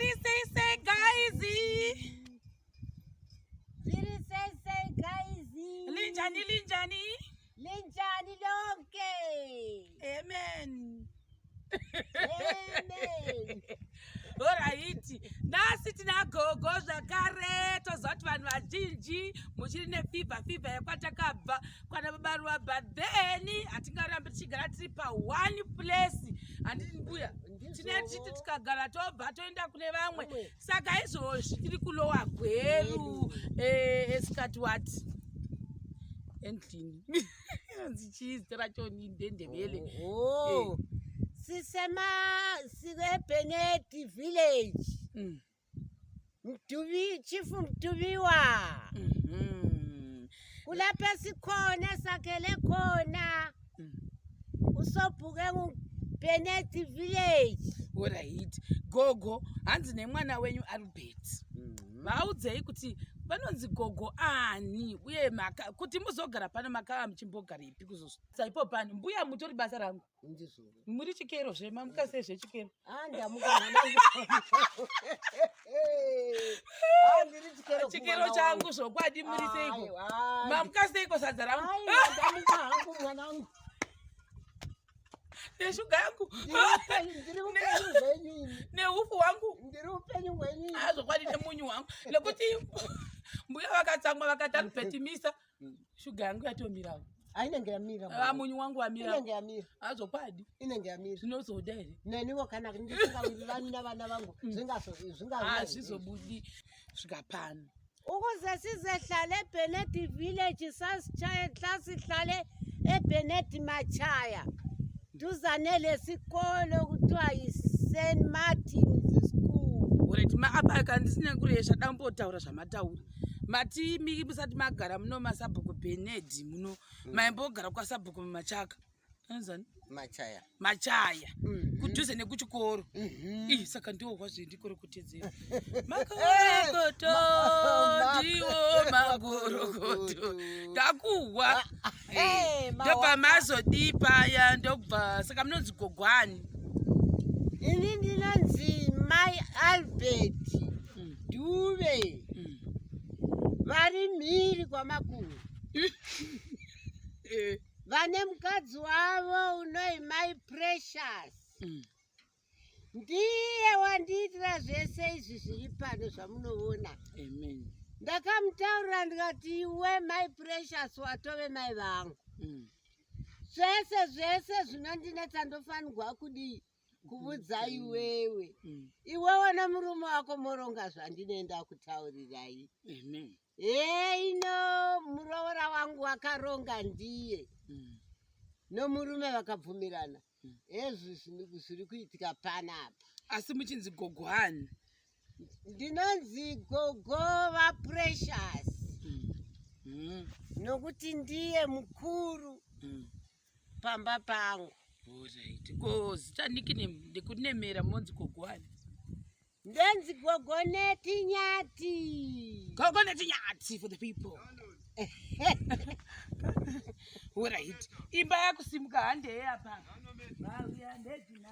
Zviri sei sei guys. Zviri sei sei guys. Linjani linjani. Linjani lonke. Amen. Amen. Horaiti, nhasi tina gogo zvakare tozoti vanhu vazhinji muchiri nefivha fivha yekwatakabva kwana babaruwa but then hatingarambi tichigara tiri paone place handiti mbuya tinetiti tikagara tobva toenda kune vamwe saka izvozvi tiri kulowa gweru eh, esikati wati endlini anzi chii zita racho ni ndendevele sisemasivepheneti village mm. Mtuvi, chifu mtuviwa mm -hmm. kulapha sikhona sakhele khona mm. usobhuke ngubenet village orit gogo hanzi nemwana wenyu albert mm -hmm. vaudzei kuti vanonzi gogo ani uye maka kuti muzogara pano makava muchimbogarepi kuzosaipo pano mbuya mutori basa rangu muri chikero zvemamuka sei zvechikero chikero changu zvokwadi muri seiko mamuka seiko sadza rangu neshuga yangu neufu wangu azvokwadi nemunyu wangu nekuti mbuya vakatsamwa vakatari petimisa shuga yangu yatomirawo ainenge yamira ah, munyu wangu wamirinenge yamira azokwadi ah, inenge yamira zvinozoda here neniwo kana ndisingawirirani navana vangu mm. zvingazvingazvizobudi ah, svika pano ukuze sizehlale ebenet village sasihlale ebenet machaya Duzane lesikolo kuthiwa yiSt Martins School. Alright, ma apa aka ndisina kuresha dambotaura zvamataura. Mati miki musati magara muno masabhuku Benedi muno mm. maimbogara kwasabhuku mumachaka. Anzani? Machaya. Machaya. Mm -hmm. Kudhuze nekuchikoro. Mm -hmm. Ih, saka ndiwo kwazve ndikoro tidziro makorokoto ndiwo makorokoto ndakuhwa ah, ah, eh, eh, ndobva mazodii paya ndobva saka munonzi gogwani ini ndinonzi mai albert hmm. duve hmm. vari mhiri kwamakuru eh. vane mukadzi wavo unoi mai precious hmm. ndiye wandiitira zvese izvi zviri pano zvamunoona amen ndakamutaurira ndikati iwe mai precious watove mai vangu mm. zvese zvese zvinondinetsa ndofanirwa kudii kuvudza mm. iwewe mm. iwewe nemurume wako moronga zvandinoenda kutaurirai heino muroora wangu wakaronga ndiye mm. nomurume vakabvumirana hezvi zvinhu zviri kuitika panapa asi muchinzi gogo hani ndinonzi gogo vaprecious mm. mm. nokuti ndiye mukuru mm. pamba pangu ko zita nikine ndekunemera monzi gogo hani Ndenzi gogo neti nyati. Gogo neti nyati for the people. Alright. Imba yakusimuka hande hapa. Bauya ndezina.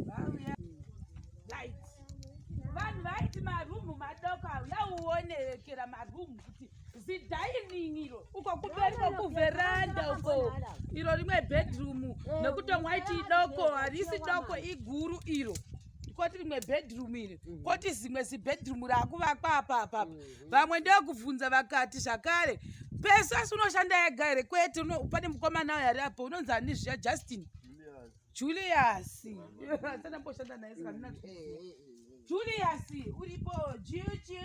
Bauya. Right. Vanhu vaiti marumu madoko auya uonekera marumu kuti zidining iro uko kumberi kokuveranda uko iro rimwe bedroom nekuti mwaiti idoko harisi doko iguru iro koti rimwe bedroom iri mhm. koti zimwe zibedroom raakuvakwa apapa mhm. vamwe ndokubvunza vakati zvakare pese asi unoshanda yega here kwete pane mukomana uyo ari apo unonzi ani zviya justin julius sanamboshanda naye saka ndinaa julius uripo juju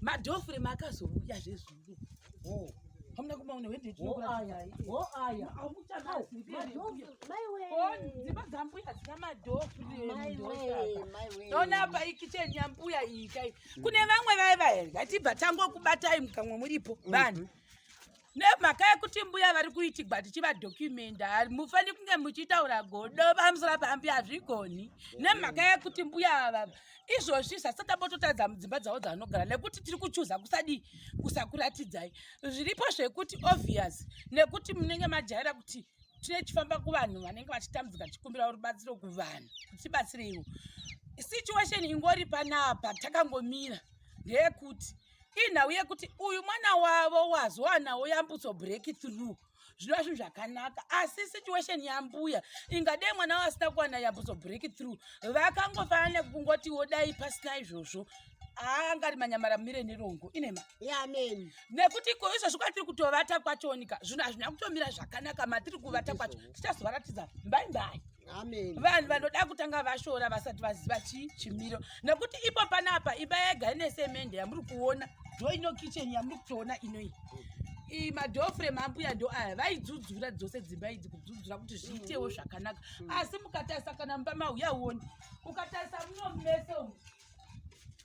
madhofure makazouya zvezvuru hamuna kumaona wendedzimba dzambuya dzina madhofreona apa ikicheni yambuya iyi kai kune vamwe vaiva here ngatibva tangokubatai mukamwa muripo vanhu mm -hmm. nemhaka yekuti mbuya vari kuitigwa tichivadokumenda mufani kunge muchitaura godo pamusora pambi hazvigoni nemhaka yekuti mbuya ava izvozvi zvasatabototadza mudzimba dzavo dzavanogara nekuti tiri kuchuza kusadii kusakuratidzai zviripo zvekuti obvious nekuti munenge majaira kuti tine chifamba kuvanhu vanenge vachitambudzika tichikumbira rubatsiro kuvanhu kutibatsireiwo situation ingori panapa takangomira ndeyekuti inhau yekuti uyu mwana wavo wazowanawo yambutso break through zvinova zvinhu zvakanaka asi situation yambuya ingadei mwana wavo asina kuwana yambutso break through vakangofanana nekungotiwo dai pasina izvozvo haangari manyamara mire nerongo inema amen nekuti iko izvozvi kwatiri kutovata kwachonika zvinhu hazvina kutomira zvakanaka matiri kuvata kwacho tichazovaratidza mbai mbai vanhu vanoda kutanga vashora vasati vaziva chii chimiro nekuti ipo panapa imba yega ine semende yamuri kuona ndo ino kicheni yamuri kutoona inoyi madofre mambuya ndo aya vaidzudzura dzose dzimba idzi kudzudzura kuti zviitewo zvakanaka mm. asi mukatarisa kana mumba mauya uoni ukatarisa muno mese umu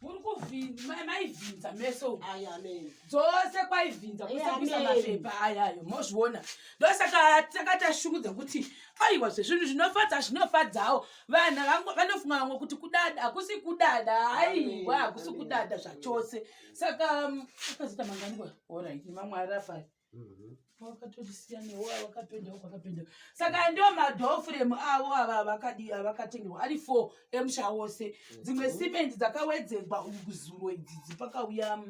muri kumaivhinza meso dzose kwaivhinza kusakuisa mapepa ayayo mozviona ndosaka takatashukudza kuti aiwa zvezvinhu zvinofadza zvinofadzawo vanhu vanofunga vamwe kuti kudada hakusi kudada aiwa hakusi kudada zvachose saka mm, akazoita manganiko orit mamwe arapari wakatotisiyanewo awakapendawo kwakapendawo saka ndo madhofuremu avo ava avakadi avakatengerwa ari four emusha wose dzimwe mhm. simendi dzakawedzerwa zuro idzi dzipakauya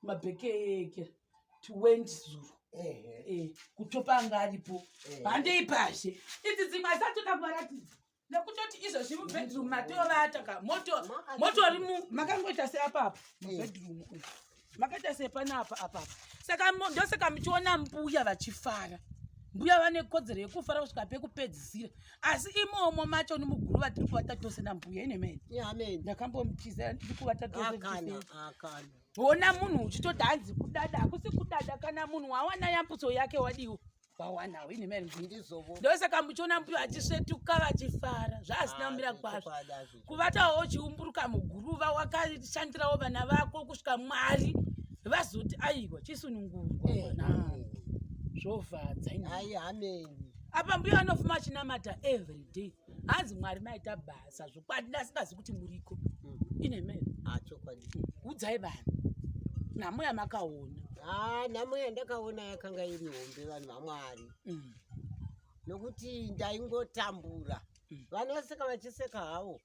mabhekeke twendi zuro eh, kutopa anga aripo handei pashe idzi dzimwe asatoda kuvaratidza nekutoti izvozvi mubedroom matovata ka moto motori mu makangoita seapapa mubedroom uyu makaita sepanapa apapa saka ndosaka muchiona mbuya vachifara mbuya vane kodzero yekufara kusvika pekupedzisira asi imomo macho ni muguru vatiri kuvata tose nambuya ine mene ndakambomuchiza ndiri kuvata tose hona munhu uchitoti hanzi kudada hakusi kudada kana munhu wawana yambuso yake wadiwo vawanawo ini mani ndindizovo ndosaka muchiona mbuyo achisvetuka vachifara zvaasina ah, kumira kwazvo kuvatawo uchiumburuka muguruva wakashandirawo vana vako kusvika mwari vazoti aiwa chisunungurwa eh, mwanangu eh. zvovhadza ai ameni apa mbuya anofuma achinamata everyday hanzi mwari maita basa zvokwadi ndasingazi kuti muriko mm. ine mene ah, chokwadi udzai vanhu nhamo yamakaona ah, nhamo yandakaona yakanga iri hombe vanhu vamwari mm. nokuti ndaingotambura mm. vanhu vaseka vachiseka havo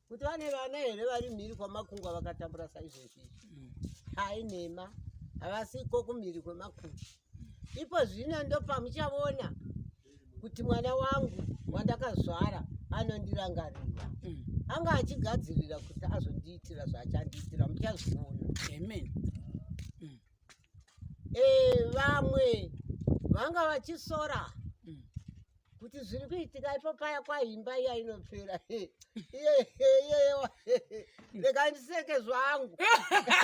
kuti vane vana here vari mhiri kwamakungwa vakatambura saizvezvi mm. hai nhema havasiko kumhiri kwemakungwa ipo zvino ndopamuchavona kuti mwana wangu wandakazvara anondirangarira mm. anga achigadzirira kuti azondiitira zvaachandiitira muchazviona amen eh, vamwe vanga vachisora mm. kuti zviri kuitika ipo paya kwaimba iya inopera rega ndiseke zvangu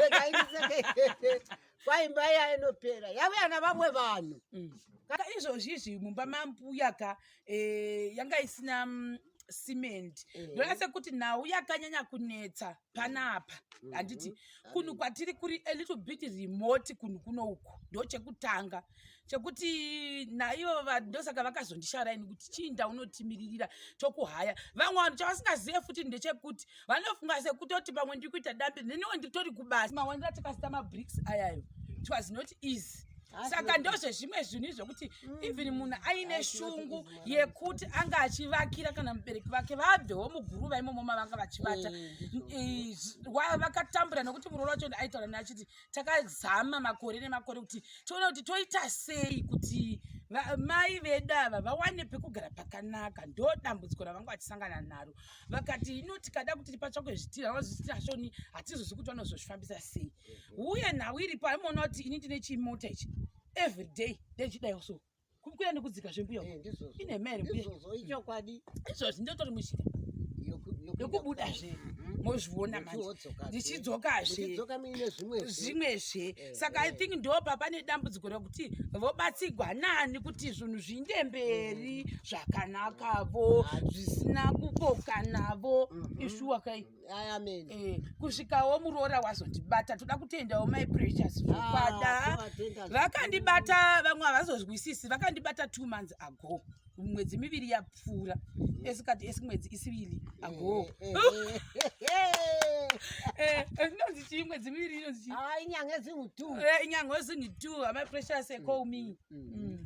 rega ndiseke kwaimba iya inopera yavuya na vamwe vanhu mm. ka izvozvizvi mumba mambuya ka eh, yanga isina mm, cement mm. ndonase kuti nhau yakanyanya kunetsa panapa mm-hmm. handiti kunhu kwatiri kuri a little bit remote kunhu kuno uku ndo chekutanga chekuti naivo ndosaka vakazondishara ini kuti chii ndaunotimiririra tokuhaya vamwe vanhu chavasingazive futi ndechekuti vanofunga sekutoti pamwe ndiri kuita dambe neniwo nditori kubasa mawanira tikasita mabricks ayayo it was not easy saka ndozvezvimwe zvinhu izvokuti mm. even munhu aine shungu yekuti anga achivakira kana mubereki vake vabvewo muguruva imomo mavanga vachivata eh, vakatambura nekuti muroora wacho aitaura naye achiti takazama makore nemakore kuti tione kuti toita sei kuti mai vedu ava vawane pekugara pakanaka ndo dambudziko ravanga vachisangana naro vakati ino tikada kuti tipatsvakwe zvitira vazvitira shoni hatizozi kuti vanozozvifambisa sei uye nhau iripo aimoona kuti ini ndine chimota ichi everyday ndechidaiwo so kukwira nekudzika zvembuya eh, ine mhere ichokwadi izvozvi ndototi musvika yokubuda zve mm-hmm. mozviona mandichidzokazve zvimwezve eh, saka i eh. think ndo papa nedambudziko rekuti vobatsigwa nani kuti zvinhu zviinde mberi mm. zvakanakavo zvisina kukokanavo mm-hmm. ishuwa kai amen eh, kusvikawo muroora wazondibata toda kutendawo my precious zvokwada ah, vakandibata vamwe havazozwisisi vakandibata two months ago mwedzi miviri yapfuura mm. esikati esimwedzi isivili ago eh, eh, eh, inonzi chii mwedzi miviri inonzi chii ah, inyanga ezinhu two inyanga ezinhu two amai precious call me mm. mm.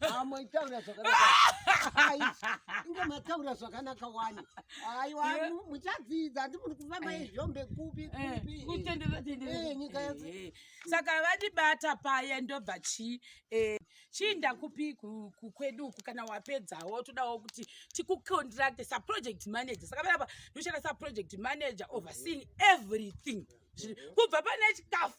amoitaura zvakanakainge mataura zvakanaka wani aiwa muchadzidza handi muri kufamba eh. izvombe kupi eh, kupinyika eh, yese saka vadibata paya ndobva chii chii ndakupi kukwedu uku kana wapedzawo todawo kuti tikucontracte saproject manager saka vaiapa ndoshanda saproject manager overseeing everything kubva pane chikafu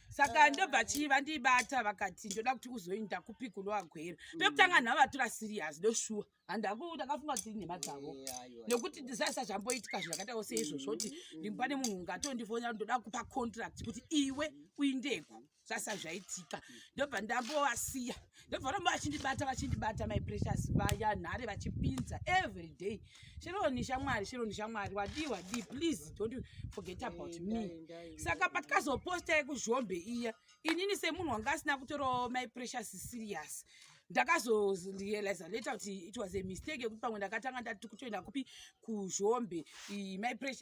saka ndobva chii vandibata vakati ndoda kuti uzoinda kupi kunoagwera mm. pekutanga nhavatora serious ndoshuwa handaku ndakafunga kuti nhema dzavo nekuti ndisaisa zvamboitika zvakaita ose izvozvo kuti mm. rimba nemunhu ungatondifonera ndoda kupa contract kuti iwe uindeku zvasa zvaitika mm. ndobva ndambovasiya ndovaramba vachindibata vachindibata my precious vaya nhare vachipinza every day sheroni shamwari sheroni shamwari wadii wadii please don't forget about me saka patikazoposta yekuzhombe iya inini semunhu wanga asina kutorawo my precious serious ndakazorealiza later kuti it was a mistake yekuti pamwe ndakatanga ndati kutoenda kupi kuzhombe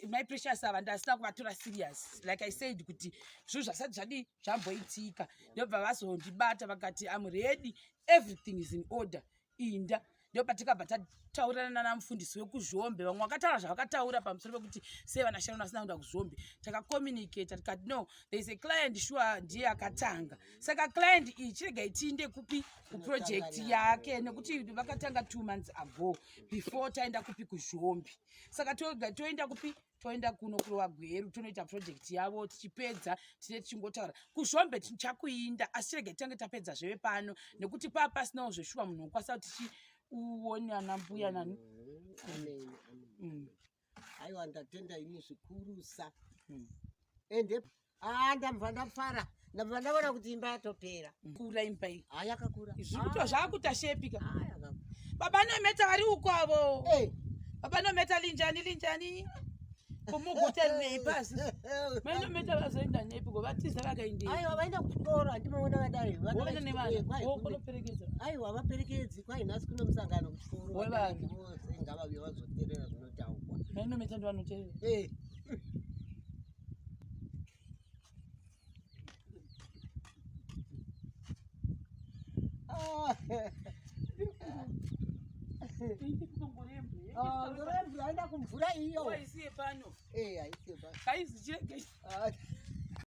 my precious ava ndasina kuvatora serious like i said kuti zvinhu zvasati zvadii zvamboitika ndobva vazondibata vakati am ready everything is in order inda ndopatikabva tataurirana nana mufundisi wekuzhombe vamwe vakataura zvavakataura pamusoro pekuti sei vana sharon vasina kuenda kuzhombe takacommunicata tikati no thereis a client sure ndiye akatanga saka client iyi chirega itiinde kupi kuproject yake nekuti vakatanga two months ago before taenda kupi kuzhombe saka toenda kupi toenda kuno kurova gweru tonoita project yavo tichipedza tine tichingotaura kuzvombe tichakuinda asi rege tange tapedza zveve pano nekuti paa pasinawo zveshuwa munhu wokwasa kuti tichiuone ana mbuya nani mm. aiwa ndatenda ini zvikurusa mm. ende Ah, ndabva ndafara ndabva ndaona kuti imba yatopera mm. kura imba iyi ha ah, yakakura zvikuto ah. zvakuta shepika ah, baba nometa vari uko avo hey. Eh. baba nometa linjani linjani kumuguta rinei pasi mainometa vazoenda nepi ko vatiza vakaendei aiwa vaenda kuchikoro handimaona vadai vakaenda nevana vokunoperekedza aiwa havaperekedzi kwai nhasi kuno musangano kuchikoro wevana vose ngavave vazoterera zvinotaurwa mainometa ndivanoterera eh. Aenda kumvura iyo. Waisiye pano. Eh, aisiye pano. Kaizi cheke.